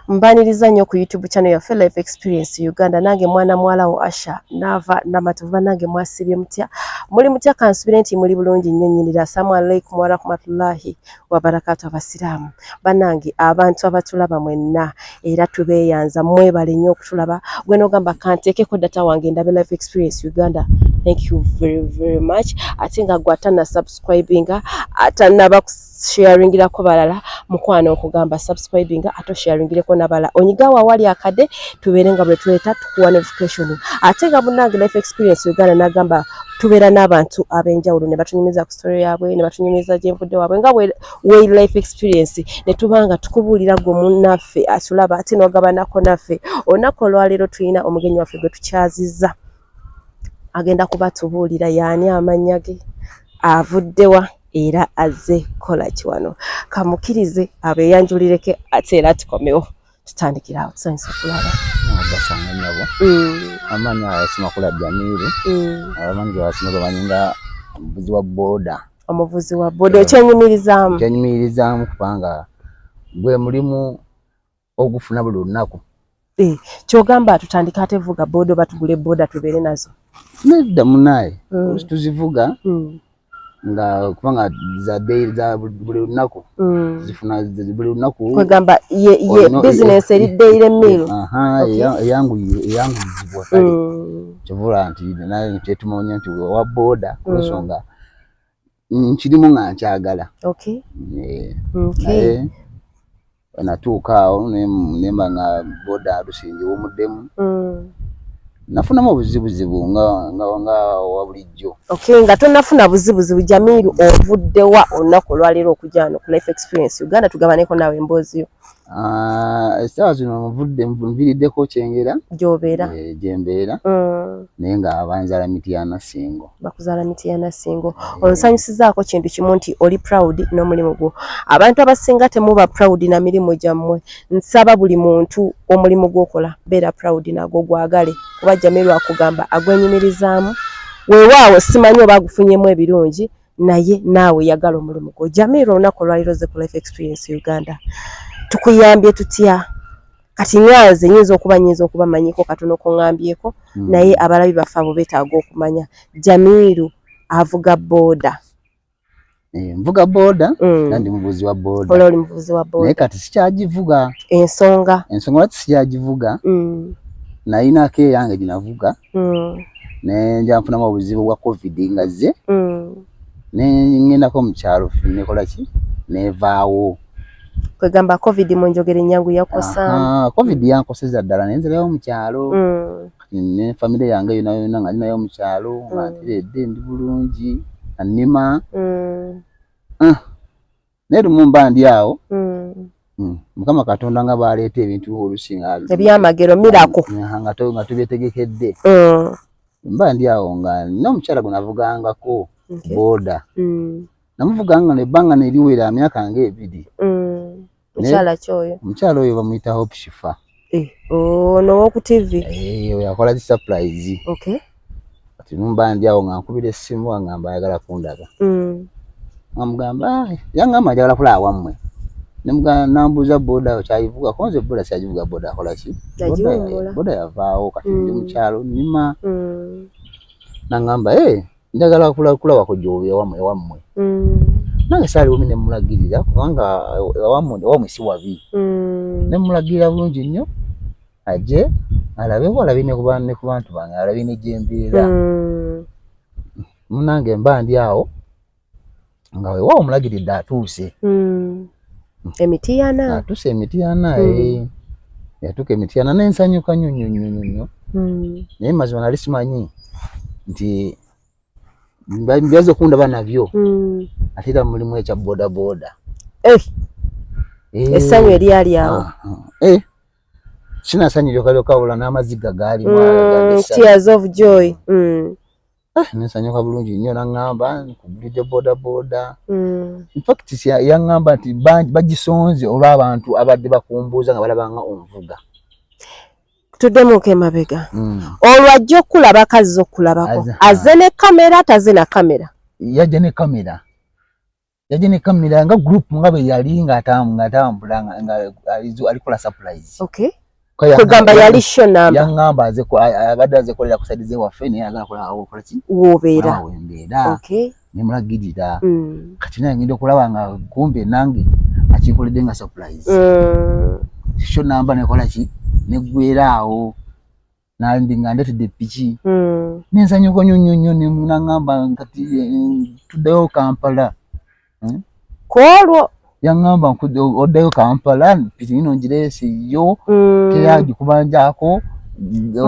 mbaniriza nnyo ku youtube channel yaffe life experience uganda nange mwana muwala wo asha naava namatovu banange mwasibye mutya muli mutya kansubire nti muli bulungi nnyo nyinira asalaamu alaikum warahmatullahi wabarakatu abasiraamu banange abantu abatulaba mwenna era tubeeyanza mwebale nnyo okutulaba gwe nogamba kanteekeko data wange ndabe life experience uganda thank you very very much ate nga gwe atanasubscribinga atanaba sharingirako balala mukwano okugamba subscribing ato sharingireko nabala onyigawo awali akade tubeere nga bwetweta tukuwa notification ate nga munange life experience uganda nagamba tubeera n'abantu ab'enjawulo ne batunyumiza ku story yaabwe ne batunyumiza gyenvudde waabwe nga way life experience ne tuba nga tukubuulira gwe munnaffe atulaba ate n'ogabanako naffe olunaku olwaleero tulina omugenyi waffe gwe tukyazizza agenda kuba tubuulira yaani amannya ge avuddewa era azze kolaki wano kamukirize abeyanjulireke ate era tukomewo tutandikira awo tusanyusa okulaba gasanga nyabo mm. amaanyi ayasimakula jamiru mm. abamanyi gwebasinga bamanyi nga omuvuzi wa boda omuvuzi wa boda ekyenyumirizaamu ekyenyumirizaamu kubanga gwe mulimu ogufuna buli lunaku eh, kyogamba atutandika ate vuga boda oba tugule boda tubeere nazo nedda munaye mm. osi tuzivuga mm. nga kubanga za day za buli lunaku mm. zifuna buli lunaku kwegamba ye ye oh, business eri daily meal aha eyangu eyangu zibwa kale mm. kivula nti naye nti etumonya nti wa boda mm. kusonga mm. nkirimu nga nkyagala naye natuuka awo nemba nga boda lusingi wumuddemu mm. nafunamu obuzibuzibu nga wabulijjo nga tonafuna buzibuzibu jamiru ovuddewa olunaku olwaleero okujano ku life experience uganda tugabaneko nawe embooziyo Ah, essaawa zino muvudde nviriddeko kyengera gyobeera eh, gyembeera mm. naye nga abanzala mityana singo bakuzala mityana singo eh. onsanyusizaako kintu kimu nti oli proud n'omulimu gwo abantu abasinga temuba proud na mirimu gyammwe nsaba buli muntu omulimu gwokola beera proud nagwo gwagale kuba jjamilwakugamba agwenyumirizaamu weewaawo simanyi oba agufunyemu ebirungi naye naawe yagala omulimu gwo jamiira olunaku olwaliro ze ku life experience uganda tukuyambye tutya kati nganze nyinza okuba nyinza okuba manyiko katono kongambyeko mm. naye abalabi baffe abo betaaga okumanya jamiiru avuga boda eh, nvuga boda mm. nandi muvuzi wa boda ololi muvuzi wa boda naye kati sikyagivuga ensonga ensonga lwaki sikyagivuga mm. nayinako eyange ginavuga mm. nenja nfunamu obuzibu bwa covid nga zze mm. nengendako mukyalo nekolaki nevaawo kwegamba covid munjogere nyangu yakosa covid yankoseza ddala nenzirayo mukyalo mm. ne famire yange yonayona nga ninayo mukyalo mm. nga ntiredde ndi bulungi anima ah. naye lumu mba ndi awo mm. Mm. mukama katonda nga baleeta ebintu olusi ebyamagero mirako nga tubyetegekedde mm. mba ndi awo nga nina omukyala gwe navugangako boda namuvuga nga nebbanga neriwera myaka nga ebiri omukyala oyo bamuyita hope shifa Eh, ono oh, woku TV. Eh, oyo akola ki surprise. Okay. Ati numba ndi awo ngankubira essimu angamba ayagala kundaga. Mm. Amugamba ah, yangamba ayagala kula awamwe. Nemugamba nambuza boda okyayivuga konze boda syajivuga boda akola ki? Boda yavaawo kati ndi mm. mukyalo nima. Mm. Nangamba eh njagala kulaba kujja obubi ewammwe ewammwe mm. nange saaliwomi ne mmulagirira kubanga ewammwe si wabi mm. ne mmulagirira bulungi nnyo aje alabeho alabe ne ku bantu bange alabe ne gyembeera mm. munange mba ndi awo nga wewa omulagiridde atuuse hmm. emitiyana atuuse emitiyana hmm. eh. yatuuka emitiyana nensanyuka nyo nyo nyo nyo nyo hmm. naye mazima nali simanyi nti byaza okundaba nabyo ate era mulimu ekya bodaboda eh. eh. essanyu eryali awo ah, ah. eh. sinasanyiryokalyoka wabula n'amaziga gaalimu mm, tears of joy mm. Eh, nensanyuka bulungi nnyo naŋŋamba nkugulidde bodaboda mm. infact yaŋŋamba nti bagisonze olw'abantu abadde bakumbuuza nga balaba nga onvuga tuddemuuko emabega mm. olwo ajja okukulaba kazza okukulabako aze ne kamera taze na kamera yajja ne kamera yaje ne kamera nga group nga be yali nga atamu nga atambula nga alizu alikola surprise okay kugamba yali show number yangamba aze ko abadde aze kolera kusadize waffe naye agala kola awo kola ki wobeera awo mbeera okay ne mulagirira mm. kati naye ngenda okulaba nga kumbe nange akinkoledde nga surprise mm. show number nekola ki neggwera awo nandi nga ndetedde piki hmm. nensanyuka nyo nyo nyo nemunangamba kati eh, tuddeyo kampala hmm? kwolwo yangamba oddeyo kampala piki ino njirese yo hmm. teyagikubanjako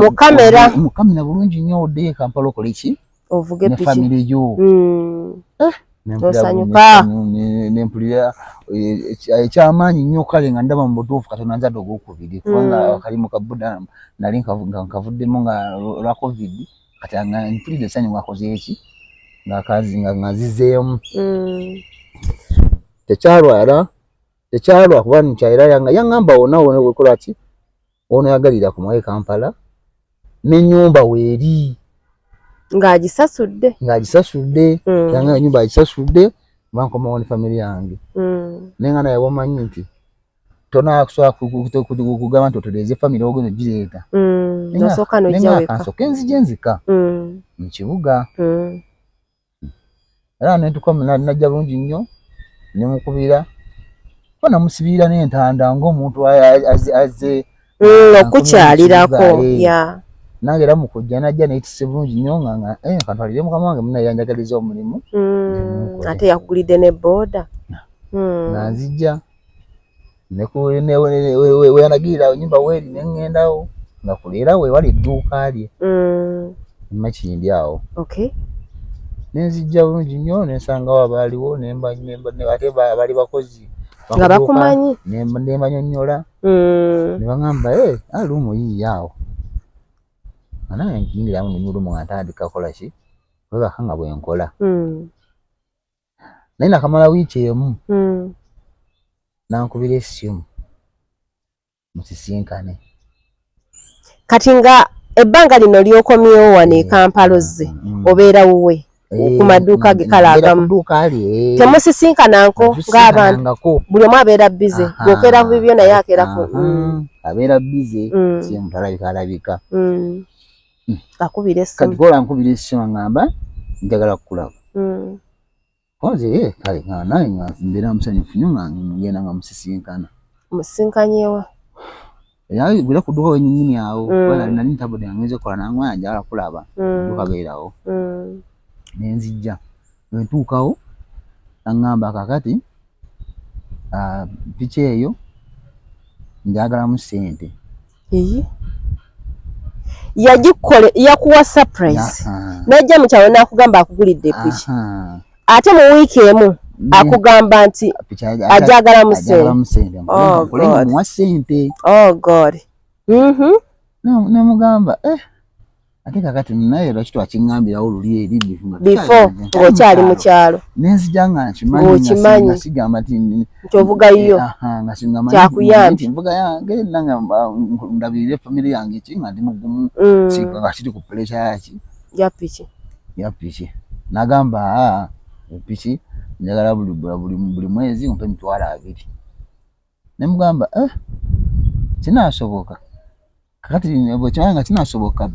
mukamera mukamera bulungi nyo oddeyo e kampala okoleki ovuge piki family yo mm. eh, osanyuka nempulira eh, eh, ekyamaanyi nnyo kale nga ndaba mu butuufu katonda nzadde ogwokubiri mm. kubanga akalimu ka buda nali nkavuddemu nga lwa covid kati nga mpulidde esanyu ngakozeeki ngakazi nga ngazizeemu mm. tekyalwala tekyalwa kuba nkyayira yanga yangamba wona wona wekola ki ono yagalira ku mwaye kampala nenyumba weeri ng'agisasudde ng'agisasudde mm. yanga enyumba agisasudde bankomawo ne famire yange mm. naye nga naye wamanyi nti tonakusobola kugamba nti otereeze famire ogenda ogireeta mm. naye nga kansoke nzija enzika mu kibuga era nentuka najja bulungi nnyo nemukubira ko namusibirira n'entanda ng'omuntu azze mm, okukyalirako ya nange era mukujja najja neyitise bulungi nnyo nga nga eh, kantwalire mukama wange munaye yanjagaliza omulimu mm, ate yakugulidde ne booda mm. nanzijja weyanagirira awo nyumba weeri ne ŋŋendawo nga kuleera we wali edduuka lye mm. makindi awo ne nzijja bulungi nnyo ne nsangawo abaaliwo ate baali bakozi nga bakumanyi ne mbanyonnyola mm. ne baŋamba e eh, aluumu ah, yiiyo awo anange nkiyingiramu nenyulumu nga ntandika kola ki webaka nga bwenkola mm. naye nakamala wiiki emu hmm. nankubira esimu musisinkane kati nga ebbanga lino lyokomyewo wano e kampala ozze mm, mm, mm. obeera wuwe ku maduuka ge kale agamu temusisinkananko ngaabantu buli omu abeera bize gwokeera ku bibyo naye akeera ku abeera bize simutalabika alabika hmm. akubira esimu kati kola nkubira esimu ngamba njagala kukulaba hmm. koze ye eh, kale nga naye nga mbeera musanyufu nyo nga ngenda nga musisinkana musisinkanyewa yaani bila kuduka wenye nyini yao mm. wala nani tabu de ngeze kwa nangu ya jala kula ba mm. duka gaila ho mm. nenzi ja wentu kao nangamba kakati uh, piche yeyo njagala musente Iyi. Yajikole yakuwa surprise. Najja mukyawe nakugamba akugulidde piki. Ate mu week emu mm. akugamba nti ajagala musente. Oh God. Oh God. Mhm. Mm Namugamba eh ate kakati naye lwaki twakingambirawo luli eri before ng'okyali mu kyalo nenzija nga nkimanyi sigamba ti nti ovugayiyo kyakuyambi nvuga yange nanga ndabirire famire yange ki nga ndi mugumu mm. nga kiri ku puresha yaki ya piki ya piki nagamba piki njagala buli mwezi mpe emitwalo abiri ne mugamba eh, kinaasoboka kati bwekimanya nga kinaasoboka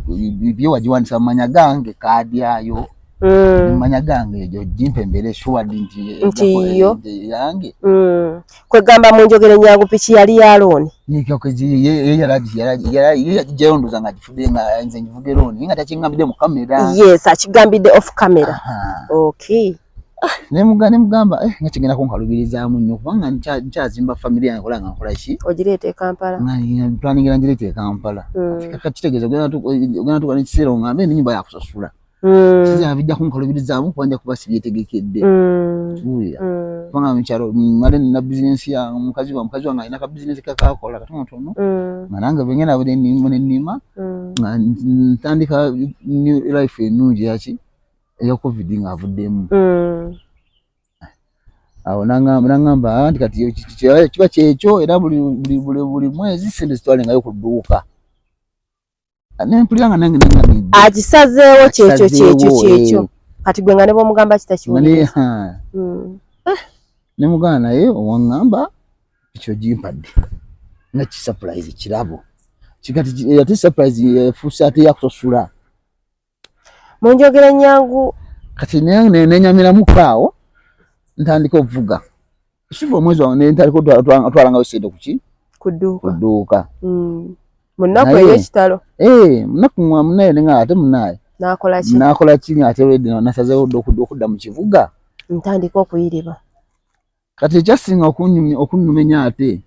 byo wagiwandisa mu manya gange kaadi ayo Mm. manya gange ejo jimpe mbere shuwa dinti nti yo yange mm. kwegamba mu njogere nyangu piki yali ya looni nikyo kezi ye ye yaraji yaraji yaraji ye yajije ondo zanga jifude nga nze njivuge looni inga tachingambide mu kamera yes achigambide off camera Aha. okay Ah, nemuga nemugamba eh, nga kigenda kunkalubirizaamu nnyo kubanga nkyazimba famire yange kola nga nkola ki ogireeta ekampala planingira ngireeta ekampala hmm. kakitegeeza ogenda tuka nekiseera ongambe enyumba yakusasula hmm. kizabijja kunkalubirizaamu kuba nja kuba sibyetegekedde hmm. kiwulira kubanga mukyalo male nina bizinensi ya mukazi wa mukazi wange alina ka bizinensi kakakola katonotono nga nange bengenda bude nima nenima nga ntandika new life enungi yaki eya covid nga avuddemu mm. awo nangamba ah, nti kati kiba kyekyo era buli mwezi sente zitwale ngayo ku dduuka ah, nempulira nga nange akisazeewo kyekyo kyekyo kyekyo eh. kati gwe nga ne bwomugamba kitakiwulira mm. eh, ne mugana naye owaŋŋamba ekyo gimpadde nga kisupurize kirabo kigati ate surprise efuuse ate yakusasula mu njogera ennyangu kati nenyamilamu kaawo ntandika okuvuga siva omwezi wange nentandika otwalangayo sente kuki kuduuka hmm. munaku eyekitalo eh, munaku munaye nga ate munaye nakola ki nga ate redi nasazewo okudda mu kibuga ntandika okuyiriba kati ekyasinga okunumenya ate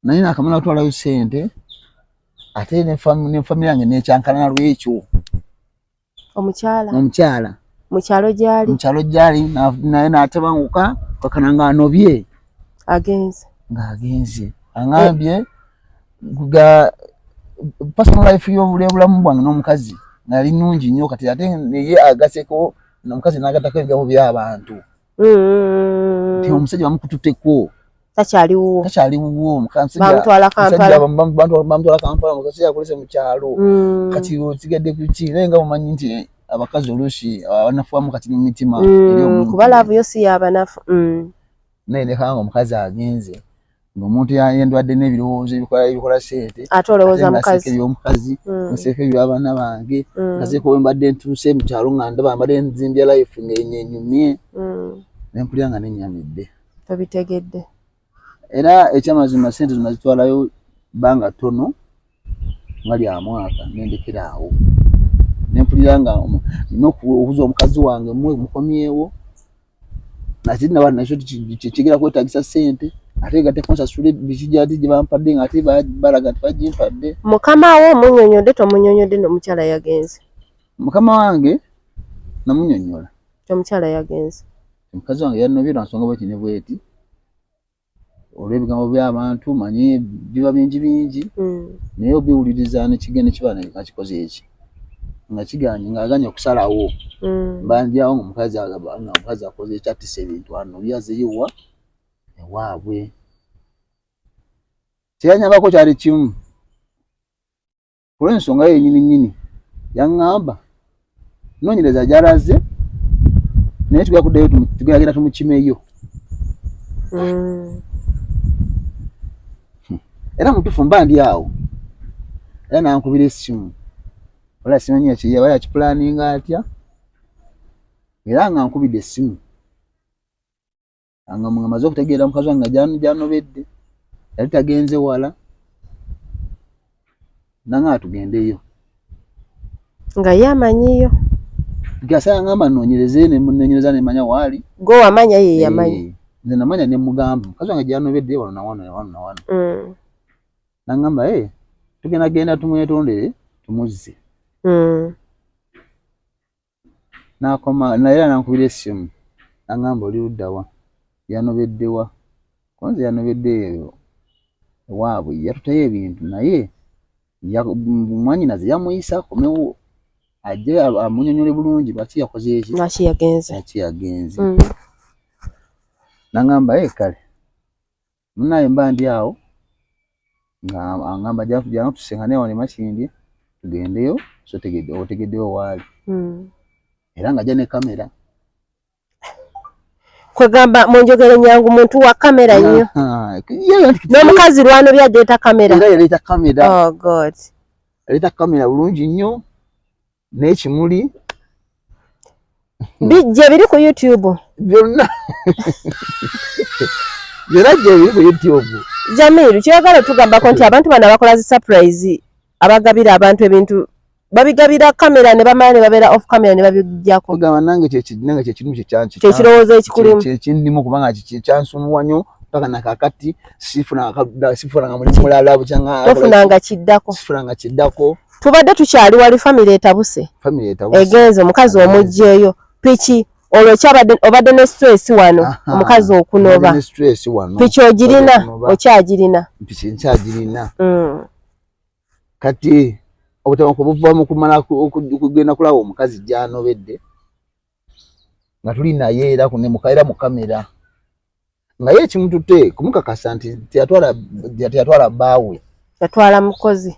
naye nakamala kutwalayo sente ate ne famire yange nekyankalana lwekyo omukyala omukyala mukyalo gyali mukyalo gyali naye natebanguka kakana nga anobye agenze nga agenze angambye eh. ga personal life yobulamu bwange n'omukazi nali nungi nnyo kati ate naye agaseko omukazi nagatako ebigambo byabantu mm. nti omusajja bamukututeko takyali wuwo takyali wuwo bamutwala kampala bamutwala kampala omusajja yakolese mu kyalo mm. kati okigadde ku ki naye nga mumanyi nti abakazi oluusi abanafuwamu kati mu mitima mm, kuba laavu yo si yabanafu naye nekanga omukazi agenze omuntu yendwadde n'ebirowoozo ebikola ebikola sente ate olowooza mukazi ebyomukazi mm. nseeko ebyabaana bange mm. nazeeko we mbadde ntuuse mu kyalo nga ndaba mbadde nzimbya life ngaenyenyumye mm. nempulira nga nenyamidde tobitegedde era ekyamazima sente zona zitwalayo banga tono nga lya mwaka nendekera awo nempulira nga nina okubuza omukazi wange mukomyewo nazinna bana nakyo kigera kwetagisa sente ate nga tekunsasula bikijaati gye bampadde nga ate balaga nti bagimpadde mukama wo omunyonyodde tomunyonyodde nomukyala yagenze mukama wange namunyonyola omukyala yagenze omukazi wange yanobye lwansonga bweti ne bweti olw'ebigambo by'abantu manyi biba bingi bingi hmm. naye obiwuliriza nekigenda kiba nga kikoze eki nga kiganye ng'aganye okusalawo hmm. mbanjawo nga omukazi nga omukazi akoze eki atisa ebintu ano oli azeyowa ewaabwe kyeyanyambako kyali kimu olw'ensonga ye nyini nyini yaŋŋamba noonyereza gyalaze naye tugenda kuddayo tugenda tumukimeyo mm. hmm. era mutufu mba ndi awo era nankubira essimu wala simanyiya kyeyaba yakipulaninga atya era nga nkubidde essimu nga nga maze okutegeera mukazi wange nga gyanobedde yali tagenze wala nanga atugendeyo nga ye amanyiyo gasa yangamba nonyereze nenonyereza nemanya waali gwe wamanya ye yamanya eh, nze namanya nemugamba mukazi wange gyanobedde wano nawano nawano nawano mm. nangamba e eh, tugenda genda tumwetondere tumuzze mm. n'akoma naye era n'ankubira essimu n'aŋŋamba oli ludda wa yanobedde wa kuba nze yanobedde eyo ewaabwe yatuteyo ebintu naye mwanyinaze yamuyisa akomewo ajje amunyonyole bulungi lwaki yakoze eki lwaki yagenze lwaki yagenze mm. n'aŋŋamba ye eh, kale munaye mba ndi awo nga angamba jana tusengane wano emakindye tugendeyo so tegede otegedeyo waali hmm. era nga ja ne kamera kwegamba munjogere nyangu muntu wa kamera nnyo n'omukazi lwano byajeta kamera era yaleeta kamera oh god yaleeta kamera bulungi nnyo n'ekimuli bijje biri ku youtube byonna byonna gye biri ku youtube jamiru kyoyagala otugambako nti abantu bano abakola zi surprise abagabira abantu ebintu babigabira kamera ne bamala ne babeera off camera ne babiggyako ogamba nange kyekinanga kyekimu kyekirowoozo ekikulimu kyekindimu kubanga kyansumuwa nyo paka nakakati sifunanga mulimu mulala bukyanga tofunanga kiddako sifunanga kiddako tubadde tukyali wali famire etabuse egenze omukazi omugyeyo piki olwo kyabadde obadde ne stress wano omukazi okunoba piki ogirina okyagirina piki nkyagirina mm. kati obutabanku buva mu kumala okugenda kulaba omukazi gyanobedde nga tuli naye era ne mukaera mu kamera nga ye ekimutute kumukakasa nti teyatwala teyatwala baawe yatwala mukozi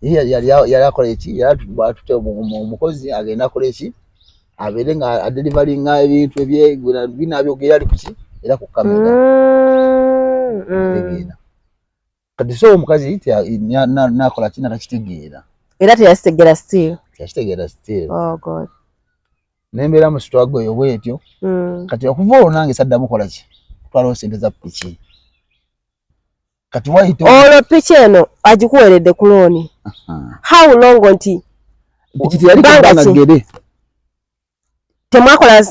yali akola eki yatute omukozi agenda akola eki abeere nga adelivalinga ebintu ebyebinabyogera ali kuki era ku kamera mm, mm. kati so omukazi nakola kina takitegeera era teyakitegera still teyakitegera still oh god nembeera mu sitwago eyo bwetyo mm. kati okuva olwo nange saddamu kola ki kutwalawo sente za piki kati wayita olwo piki eno agikuweredde ku looni how long nti piki teyali kubanga gere temwakola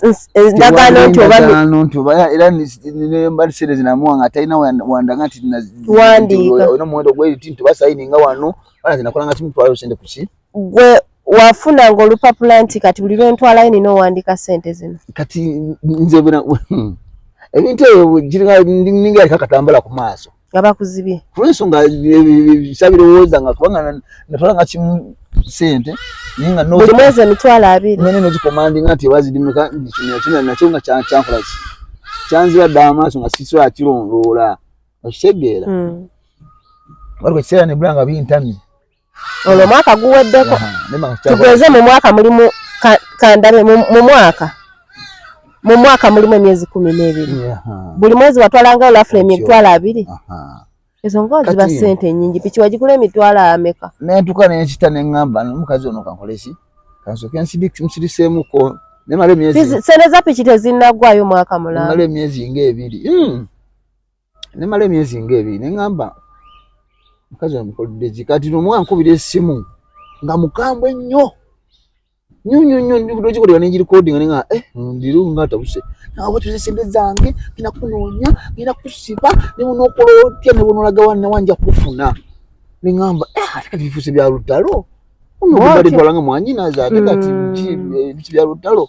ndagaano nti obaano nti obaya era nembalisere zinamuwa nga talina wandaga nti nawandiika olina omuwendo gweriti nti basayini nga wano bana zinakola nga kimutwalayo sente kuki gwe wafuna nga olupapula nti kati buli lwentwalayo nina owandiika sente zino kati nze ebintu ebyo giringa ninga aliko akatambala ku maaso nga bakuzibye kulwensonga sabirowooza nga kubanga natwala nga kimu sente naye nga buli mwezi emitwalo abiri nene nozikomandinga nti ewazidimuka kimya kino nakyo nga kyankola ki kyanziba dda amaaso nga sisobola kirondoola okitegeera hmm. waliwo ekiseera nebula nga bintamye ono omwaka guweddeko tugeze mu mwaka mulimu kandabe mu mwaka mu mwaka mulimu emyezi kumi n'ebiri buli mwezi watwalangayo lafula emitwalo abiri ezo nga ziba sente nyingi piki wagigula emitwalo ameka nentuka nenkita neŋamba nomukazi ono kankoleki kansoke nsiriseemuko nemala emyezi sente za piki tezinagwayo mwaka mulala emyezi nga ebiri hmm. nemala emyezi nga ebiri neŋamba mukazi amukoledde ki kati nomu ankubira esimu nga mukambwe nnyo nyo nyo nyo nyo kikolera ne recording nga eh ndiru nga tabuse na watu ze sende zange ina kunonya ina kusiba ne uno kolotia ne uno lagawa na wanja kufuna ni ngamba eh ataka bifuse bya rutalo uno bali twalanga mwanyi na za ataka tiji bya rutalo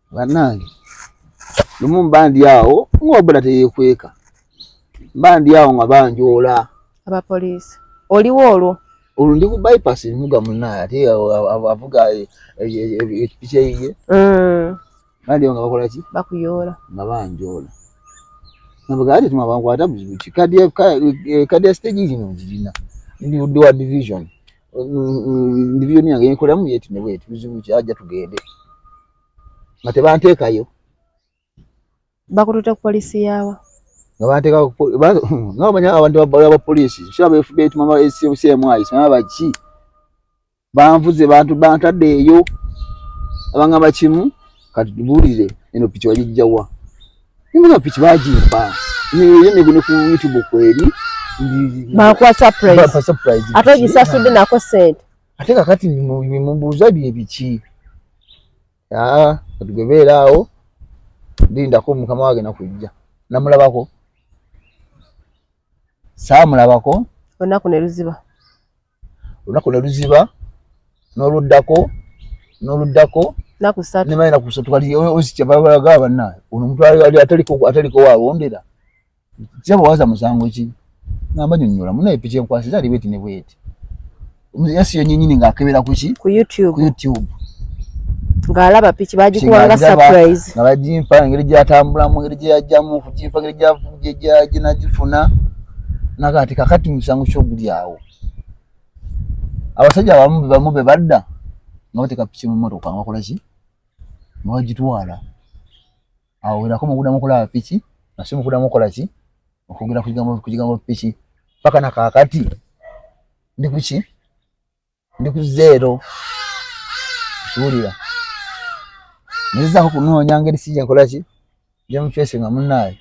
bannange lumu mba ndi awo ng'oboda teyekweka mba ndi awo nga banjoola abapoliisi oliwo olwo olwo ndi ku bypass emuga munaye ate avuga ekipiki eyiye bandi nga bakola ki bakuyoola nga banjoola nabaga ati tuma bankwata buzibu ki kadi ya stage ino ngirina ndi wa division ndivyo ni yange nkola mu yeti newe tuzibu kyaja tugende mate banteka yo bakututa ku police yawa nga banteka ku nga banya abantu babala ba police sha ba FBI tuma ba CMI sima ba chi banvuze bantu bantade yo abanga bachimu katubulire eno picho wajijjawa Mbona piki bajimba. Ni yene gune ku YouTube kweli. Ba kwa surprise. Ba kwa surprise. Ata jisasu de nako said. Ate kakati ni mumbuza bye biki. Ah, tugebera awo. Linda ko mukama wage na kujja. Namulabako. Saa mulabako. Onaku ne luziba. olunaku ne luziba n'oluddako n'oluddako nemala enaku ssatu kati ozikyabalaga banna ono omuntu ataliko wawondera kiraba waza musango ki namba nyonyola munaye piki enkwasiza ali bweti ne bweti yasi yenyinyini ng'akebera kuki ku youtube ng'alaba piki bagikuwanga surprise nga bagimpa engeri gyatambulamu engeri gyeyajjamu okugimpa engeri gyenagifuna nagati kakati musango kyoguli awo abasajja abamu bamu be badda nga bateeka piki mu mmotoka nga bakola ki nga bagitwala awo werako mukudamu okulaba piki nasi mukudamu okola ki okwogera ku kigambo piki paka na kakati ndi kuki ndi ku zeero kiwulira ngezaako kunoonya ngeri si gyenkola ki gyemufeesinga munaaye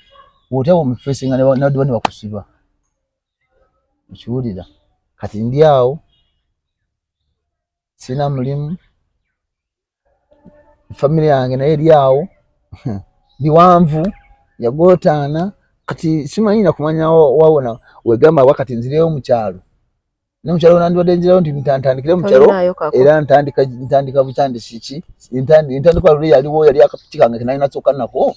wotewo mufeesinga newadiba ne bakusiba okiwulira kati ndi awo sirina mulimu famire yange naye eri awo biwanvu yagotaana kati simanyi nakumanya wawona wegamba wa kati nzireyo mukyalo ne mukyalo nandibadde nzirayo nti ntantandikire mukyalo era ntandika ntandika butandisi ki ntandika luli yaliwo yali akapiki kange kenalina soka nako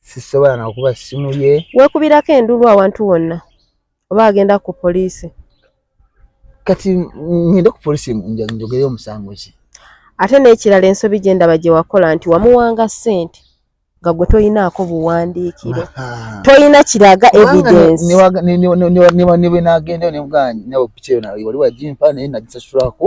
sisobola nakuba ssimu ye wekubirako endulu awantu wonna oba agenda ku poliisi kati ngende ku poliisi njogeyo omusango ki ate n'ekirala ensobi gye ndaba gye wakola nti wamuwanga ssente nga gwe toyinaako buwandiikiro toyina kiraga evidensinebwenagenda nemuganyinawe piki eyo wali wagimpa naye nagisasulako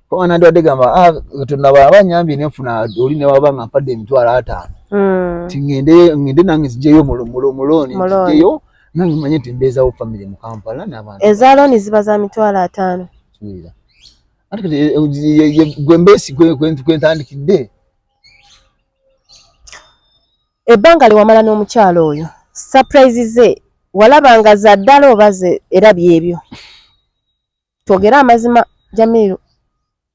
kuba nandibadde gamba ah, katonda bwaba anyambye nenfuna oli newaba nga mpadde emitwalo ataano hmm. ti ngende nange nzijeyo mulooni nzijeyo nange manye nti mbeezawo famiry mu kampala nabantu eza looni ziba za mitwalo ataano gwembeesikwentandikidde eh, eh, ebbanga lyewamala n'omukyalo oyo surprise ze walabanga za ddala oba ze era byebyo twogere amazima jamiru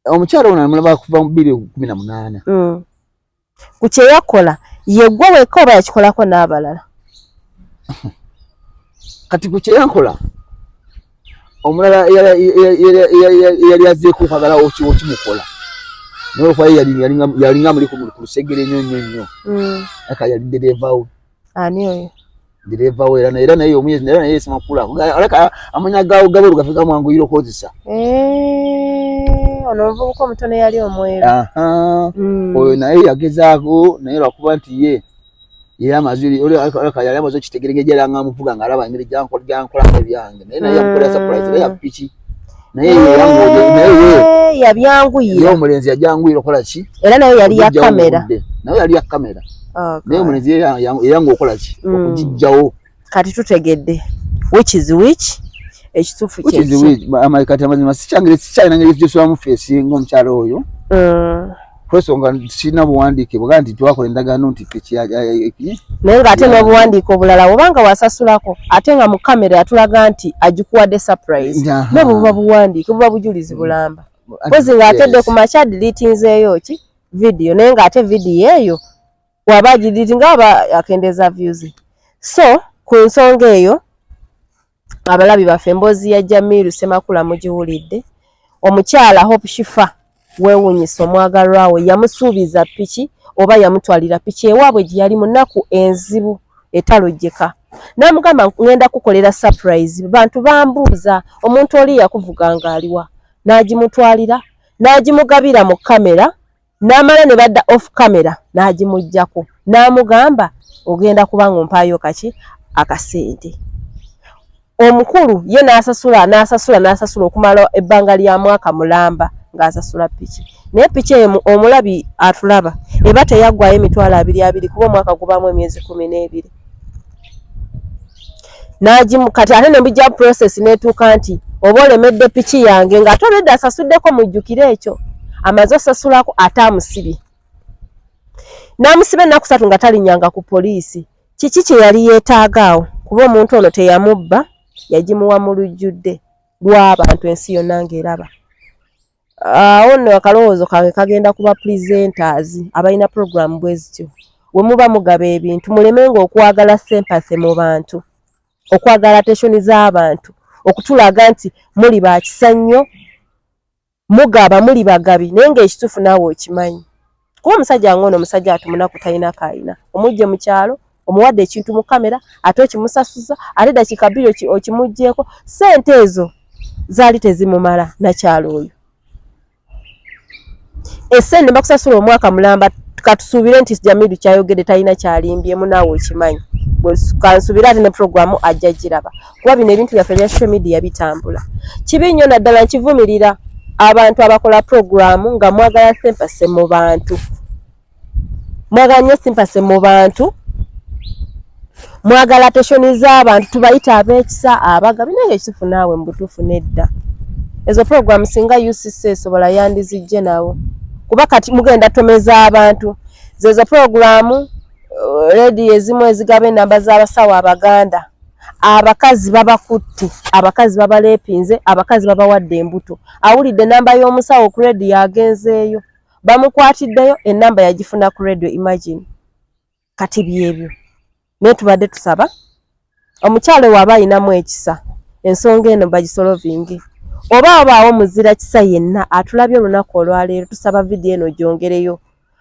omukyalo ono amulaba kuva mu biri kumi na munaana mm. ku kyeyakola yegwe weka oba yakikolako n'abalala kati ku kyeyakola omulala eyali azeeko okwagala okimukola nolwokuba yalinga muli ku lusegere nyo nyo nyo mm. aka yali derevawo ani oyo direva we era naye era naye omuyezi era naye sima kula alaka amanya gawo gabo lugafika mwangu yiro kozisa eh ono vuko mutone yali omwere aha mm. oyo naye yagezaako naye lwakuba nti ye era amazuri oli alaka yali amazo kitegerege jera nga muvuga ngalaba ngiri janko janko la byange naye naye mm. yakola surprise ya pichi naye eh, yabyanguyira omulenzi yabyanguyira okola ki era nayo yali ya kamera nayo yali ya kamera oh, naye omulenzi yeyanga okola ki mm. okugijjawo kati tutegedde which is which ekituufu kati amazima sikyangire sikyalina ngeri gyesobamu feesi ngaomukyalo oyo mm. kwesonga kirina buwandiike bwaga nti twakola endagaano nti naye nga ate n'obuwandiike obulala obanga wasasulako ate nga mu kamera atulaga nti agikuwadde surprise nobwo buba buwandiike buba bujulizi mm. bulamba kozi ng'atedde ku makya dilitinzeeyo ki vidiyo naye ng'ate vidiyo eyo waba agidilitinga aba akendeeza vyuzi so ku nsonga eyo abalabi baffe emboozi ya Jamiru Semakula mugiwulidde omukyala Hope Shifa weewunyisa omwagalwa we yamusuubiza piki oba yamutwalira piki ewaabwe gye yali munaku enzibu etalojjeka n'amugamba ngenda kukolera surprise bantu bambuuza omuntu oli yakuvuga ng'aliwa n'agimutwalira n'agimugabira mu kamera n'amala ne badda off camera n'agimuggyako n'amugamba ogenda kuba ng'ompaayo kaki akasente omukulu ye n'asasula n'asasula n'asasula okumala ebbanga lya mwaka mulamba ng'asasula piki naye piki emu omulabi atulaba eba teyaggwayo emitwalo abiri abiri kuba omwaka gubaamu emyezi kumi n'ebiri n'agimu kati ate ne mujja process n'etuuka nti oba olemedde piki yange ng'ate olwedde asasuddeko mujjukire ekyo amaze osasulako ate amusibye n'amusiba ennaku ssatu nga talinyanga ku poliisi kiki kye yali yeetaaga awo kuba omuntu ono teyamubba yagimuwa mu lujjudde lw'abantu ensi yonna ng'eraba awo nno akalowoozo kange kagenda ku ba presenters abalina program bwe zityo we muba mugaba ebintu mulemenga okwagala sempase mu bantu okwagala ateshoni z'abantu okutulaga nti muli ba kisa nnyo mugaba muli bagabi naye ng'ekituufu naawe okimanyi kuba omusajja nga ono omusajja ati munaku talina kayina omujje mu kyalo omuwadde ekintu mu kamera ate okimusasuza ate dakiika bbiri okimuggyeko ssente ezo zaali tezimumala nakyalo oyo esente bakusasula omwaka mulamba katusuubire nti jamidu kyayogedde talina kyalimbyemu naawe okimanyi kansubire ate ne puroguramu ajja giraba kuba bino ebintu byaffe bya social media bitambula kibi nnyo naddala nkivumirira abantu abakola puroguramu nga mwagala simpase mu bantu mwagala nnyo simpase mu bantu mwagala teshoni z'abantu tubayita ab'ekisa abaga bino nga ekitufu naawe mu butuufu nedda ezo puroguramu singa ucc esobola yandizijje nawo kuba kati mugenda tomeza abantu zezo puroguramu uh, rediyo ezimu ezigaba enamba z'abasawo abaganda abakazi babakutte abakazi babalepinze abakazi babawadde embuto awulidde enamba y'omusawo ku radio agenzeeyo bamukwatiddeyo enamba yagifuna ku radio imagine kati byebyo naye tubadde tusaba omukyalo waaba ayinamu ekisa ensonga eno bagisolovinge oba abaawo muzira kisa yenna atulabye olunaku olwaleero tusaba vidiyo eno gyongereyo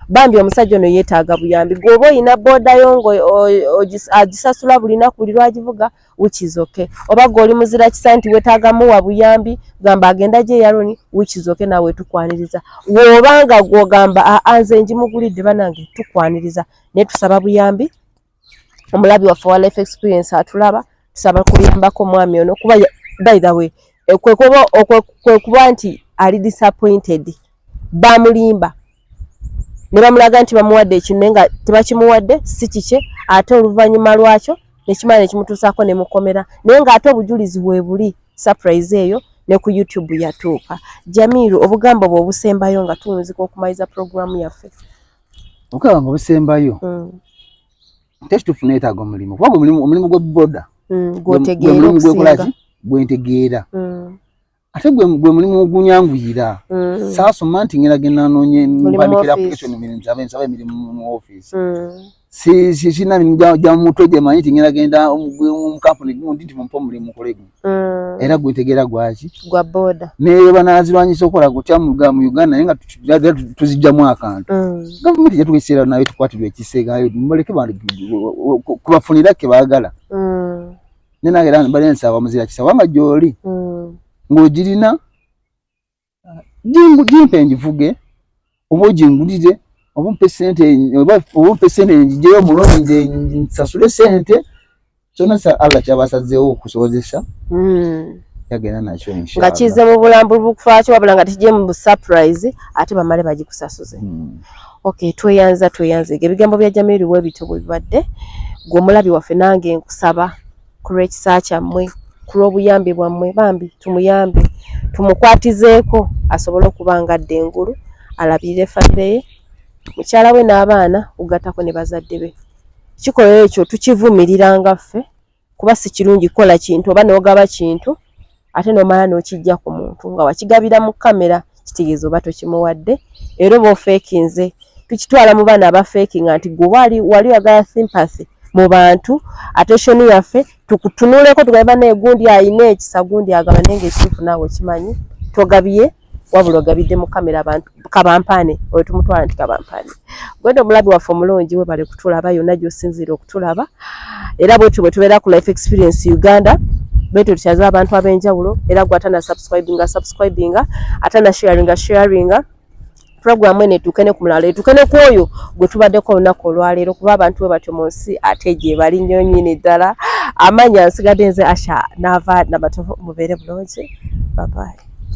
bambi omusajja ono yeetaaga buyambi gweoba olina booda yo ng'agisasula buli naku buli lwagivuga which is okay oba gwe oli muzira kisa nti wetaaga muwa buyambi gamba agenda gye yaroni which is okay nawe tukwaniriza woba nga gwogamba aanze njimugulidde banange tukwaniriza naye tusaba buyambi omulabi waffe wa life experience atulaba tusaba kuyambako omwami ono kuba by the way eh, kwekuba nti ali disappointed bamulimba ne bamulaga nti bamuwadde ekintu naye nga tebakimuwadde si kikye ate oluvannyuma lwakyo nekimala nekimutuusaako ne mukomera naye ng'ate obujulizi bwe buli surprise eyo ne ku youtube yatuuka jamiiru obugambo bwe obusembayo nga tuwunzika okumaliriza pulogulaamu yaffe okulaba nga obusembayo mm. tekituufu neetaaga omulimu kuba omulimu gwe boda mm, gwotegeeraomulimu gwekolaki gwentegeera mm. ate gwe mulimu ogunyanguyira saasoma nti ngera genda noonye mpandikira application mirimu kyabe nsaba emirimu mu ofiisi sirina mirimu gya mutwe gye manyi ti ngera genda mu kampuni gundi nti mumpa omulimu nkole guno mm. era gwetegera gwaki gwa boda naye banazirwanyisa okola kutya muga mu uganda naye nga tuzijjamu akantu mm. gavumenti jatuwa ekiseera nayo tukwatirwa ekiseegayo muleke kubafunira ke baagala mm. nenange era bali ensaba muzira kisa wanga gyoli mm. ng'ogirina jimpe njivuge oba ojingulire oba ompe sente oba ompe sente njijeyo omuloni nze nsasule sente kyona sa allah kyabasazeewo okusobozesa hmm. yagenda nakyo nga kize mu bulambulu bukufaaki wabula nga tekijye mu busurprise ate bamale bagikusasuze hmm. ok tweyanza tweyanzege ebigambo bya jamiru webityo bwebibadde gwe omulabi waffe nange nkusaba ku lw'ekisa kyammwe ku lw'obuyambi bwammwe bambi tumuyambe tumukwatizeeko asobole okuba nga adda engulu alabirire famire ye mukyala we n'abaana kugattako ne bazadde be kikolero ekyo tukivumirira nga ffe kuba si kirungi kukola kintu oba n'ogaba kintu ate nomala nokijja ku muntu nga wakigabira mu kamera kitegeeza oba tokimuwadde era oba ofeekinze tukitwala mu baana abafeekinga nti gwe wali wali oyagala sympathy mu bantu attention yaffe tukutunuleko tugambe naye gundi ayina ekisa gundi agaba naye nga ekituufu naawe okimanyi togabye wabula ogabidde mu kamera abantu kabampaane oyo tumutwala nti kabampaane gwenda omulabi waffe omulungi webale kutulaba yonna gyosinziira okutulaba era bwetyo bwetubeera ku life experience uganda bwetyo tukyaza abantu ab'enjawulo era gwe atana subscribinga subscribinga atana sharinga sharinga program ene tukene ku mulala etukene ku oyo gwe tubaddeko olunaku olwaleero kuba abantu we batyo mu nsi ate gye bali nnyo nyini ddala amanya nsigadde nze asha naava namatovu mubeere bulungi babaye